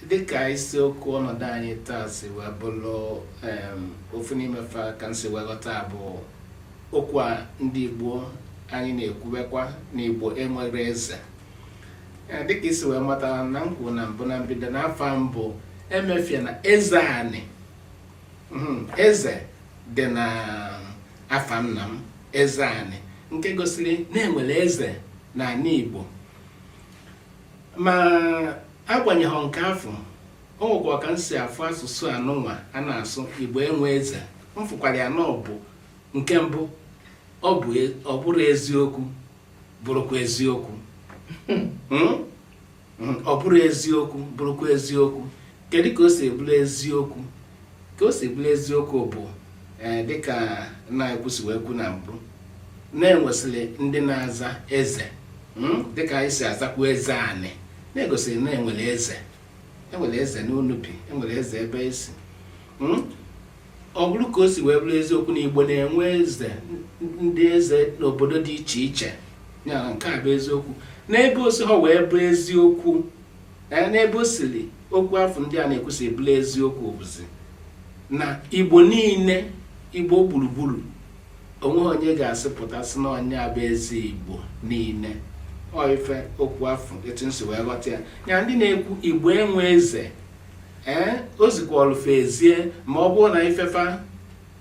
dịka isiokwu ọnọdụ anyị taa si wee bụrụ ofu n'ime fa ka m si wee ghọta bụ okwu a ndị Igbo anyị na-ekwubekwa na Igbo enwere eze dịka i si wee mata na m kwuru na mbụ na mbido na afa m bụ Emefiena Ezeanị hmm, eze dị na afa nna m Ezeanị nke gosiri na e nwere eze n'anị Igbo ma agbanyeghị nke afụ o nwekwa ka m si afụ asụsụ anụnwa a na-asụ igbo enwe eze m fụkwara ya na ọ bụ nke mbụ ọ bụ e, ọ bụrụ eziokwu bụrụkwa eziokwu Hmm? Hmm, ọ bụrụ eziokwu bụrụkwa eziokwu kedu ka o si wee bụrụ eziokwu ka o si bụrụ eziokwu bụ ee dịka nna anyị kwusi wee kwu na mbụ na e nwesịrị ndị na-aza eze hmm, dịka anyị si azakwu Ezeanị na-egosiri na e nwere eze e nwere eze Nnobi e nwere eze Obosi hmm, ọ bụrụ ka o si wee bụrụ eziokwu na igbo na-enwe eze ndị eze n'obodo dị iche iche ya nke a bụ eziokwu n'ebe o siho wee bụ eziokwu ee n'ebe o siri okwu afụ ndị a na-ekwu si wee bụrụ eziokwu bụzi na igbo niile igbo gburugburu o nweghị onye ga-asị pụta sị na onye a bụ eze igbo niile ọ ife okwu afụ etu m si wee ghọta ya ya ndị na-ekwu igbo enwe eze ee o zikwa ọlụfe ezie ma ọ bụrụ na ife fa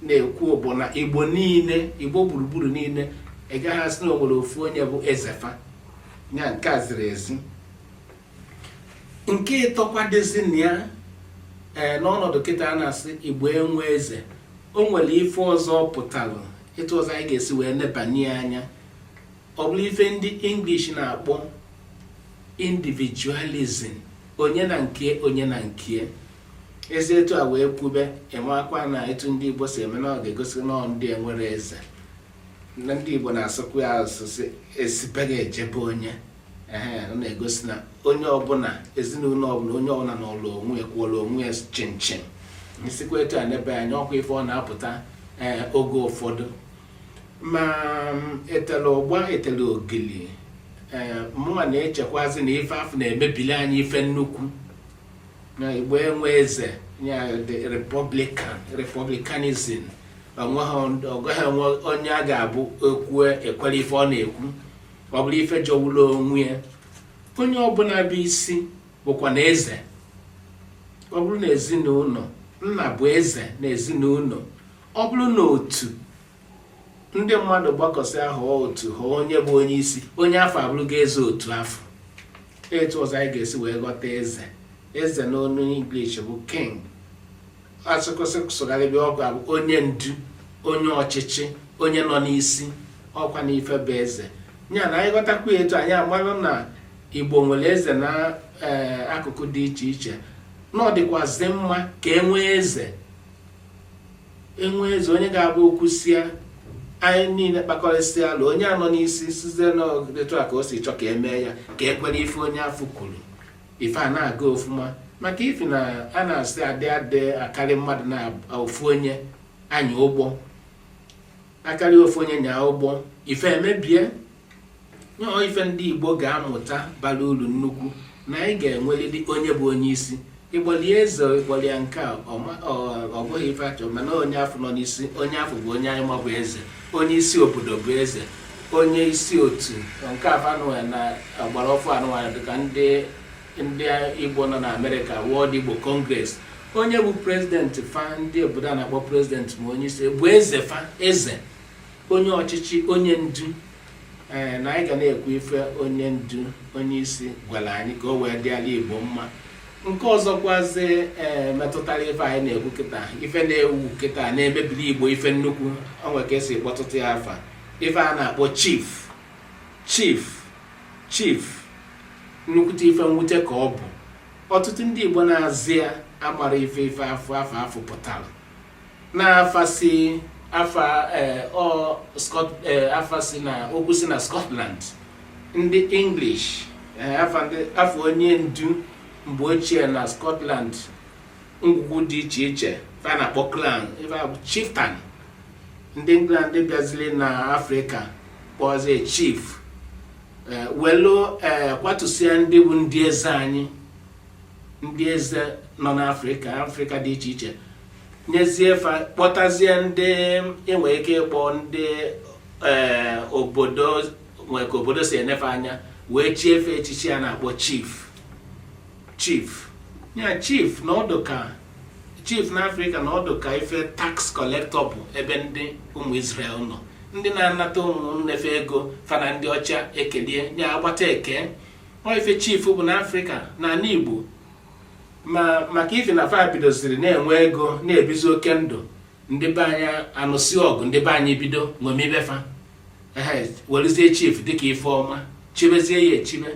na-ekwu bụ na igbo niile igbo gburugburu niile ị gaghị asị na o nwere ofu onye bụ eze fa ya nke a ziri ezi nke ịtọkwa dịzi na ya ee n'ọnọdụ kịta a na-asị igbo enwe eze o nwere ife ọzọ pụtara etu ọzọ anyị ga-esi wee nebanye anya ọ bụrụ ife ndị English na-akpọ individualism onye na nke onye na nke e si etu a wee kwube enwekwa na etu ndị Igbo si eme na ọ ga-egosi na ndị enwere eze ndị Igbo na-asụkwa ya asụsụ e si be gị eje be onye ọ na-egosi na onye ọbụla ezinụlọ ọbụla onye ọbụla nọọlụ onwe ya kwụlụ onwe ya chịm chịm m sikwa etu a nebe anya ọkwa ife ọ na-apụta eh, oge ụfọdụ ma mm, etela ụgba etela ogili eh, mụnwa na-echekwazi na ife afụ na-emebili anyị ife nnukwu na igbo enwe eze ya the republican republicanism agaghị enwe onye ọ ga-abụ o kwue e kwere ife ọ na-ekwu ọ bụrụ ife jọwụrụ onwe ya onye ọbụna bụ isi bụkwa na eze ọ bụrụ na ezinụnọ nna bụ eze na ezinụnọ ọ bụrụ na otu ndị mmadụ gbakọsị ahụ otu ha onye bụ onye isi onye afụ abụrụgo eze otu afụ etu ọzọ anyị ga-esi wee ghọta eze eze n'onu English bụ king asụkụsị sụgharịbị ọ ga-abụ onye ndu onye ọchịchị onye nọ n'isi ọkwa na ife bụ eze ya na anyị ghọtakwa etu anyị amarụ na igbo nwere eze na ee, akụkụ dị iche iche na ọ dịkwazị mma ka e nwee eze e nwee eze onye ga-abụ o kwusịa anyị niile kpakọrịsịa ala onye a nọ n'isi sịzie na etu a ka o si chọ ka e mee ya ka e kwere ife onye afụ kwuru ife ana-aga ọfụma maka ifi na a na-asị a dị a dị akarị mmadụ na ofu onye anya ụgbọ a karị ofu onye nyaa ụgbọ ife emebie nyọọ ife ndị igbo ga-amụta bara uru nnukwu na anyị ga-enwerịrị onye bụ onye isi ị kpọlị eze ị kpọlị ya nke a ọ bụghị ife a chọ mana onye afụ nọ n'isi onye afụ bụ onye anyị ma bụ eze onye isi obodo bụ eze onye isi otu nke avanụwa na ọgbara ọfụụ a nụwa dịka ndị ndị igbo nọ na amerịka World Igbo Congress onye bụ prezidenti fa ndị obodo a na-akpọ prezidenti ma onye isi bụ eze fa eze onye ọchịchị onye ndu ee na anyị ga na-ekwu ife onye ndu onye isi gwara anyị ka o wee dị ala igbo mma nke ọzọkwazi ee eh, metụtara ife anyị na-ekwu kịta ife na-ewu kịta na-emebiri igbo ife nnukwu o nwe ka e si kpọpụta ya afa ife a na-akpọ chief chief chief nnukwute ife mwute ka ọ bụ ọtụtụ ndị igbo na-aza ya amarọ ife ife afa afa afụ pụtara n'afa si afa eh, ọ Scot eh, afa si na okwu si na Scotland ndị English eh, afa ndị afa onye ndu mgbe ochie na Scotland ngwugwu dị iche iche fa na-akpọ clan ife a bụ chieftain ndị England bịaziri na Afrịka kpọzie chief eh, welu eh, kwatusịa ndị bụ ndị eze anyị ndị eze nọ n'afrịka afrịka dị iche iche nyezie fa kpọtazie ndị e nwere ike ịkpọ ndị eh, obodo nwee ka obodo si ene fa anya wee chie fa echichi a na-akpọ chief chief ya chief na ọ dị ka chief n'afrịka na ọ dị ka ife tax collector bụ ebe ndị ụmụ Israel nọ ndị na-anata ụmụnne fa ego fa na ndị ọcha ekelie ya agbata ekee ọ ife chief bụ na afrịka na ala igbo ma maka ife na fa bidoziri na-enwe ego na-ebizi oke ndụ ndị be anyị anụsị ọgụ ndị be anyị bido ṅomibe fa werezie chief dịka ife ọma chibezie ya echibe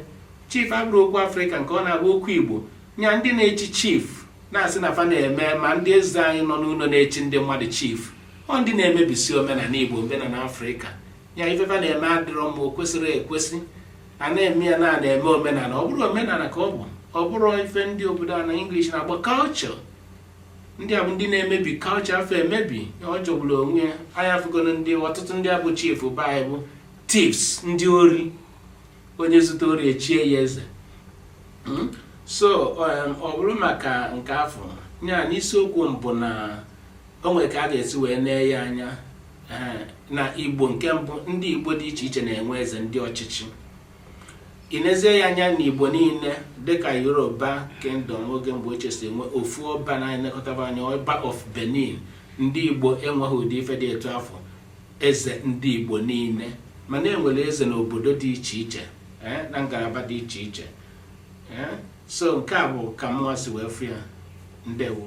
chief abụrọ okwu afrịka nke ọ na-abụ okwu igbo nya ndị na-echi chief na-asị na fa na-eme ma ndị eze anyị nọ n'ụlọ na-echi ndị mmadụ chief ọ ndị na-emebisi omenala igbo omenala afrịka ya ife fa na-eme adịrọ mma o kwesịrọ ekwesị a na-eme ya na a na-eme omenala ọ bụrọ omenala ka ọ bụ ọ bụrọ ife ndị obodo a na English na-akpọ culture ndị a bụ ndị na-emebi culture afụ emebi ọ jọgburu onwe ya anyị afụgonụ ndị ọtụtụ ndị a bụ chief be anyị bụ thieves ndị ori onye zuta ori echie ya eze hmm? so um, ọ bụrụ maka nke afụ ya n'isiokwu mbụ na o nwere ka a ga-esi wee nee ya anya na igbo nke mbụ ndị igbo dị iche iche na-enwe eze ndị ọchịchị i nezie ya anya na igbo niile dịka yoruba kingdom n'oge mgbe ochie si enwe ofu ọba na-elekọta fa anya ọba of benin ndị igbo enweghị ụdị ife dị etu afụ eze ndị igbo niile mana e nwere eze n'obodo dị iche iche eh, na ngalaba dị iche iche eh. so nke a bụ ka mụnwa si wee fụ ya ndewo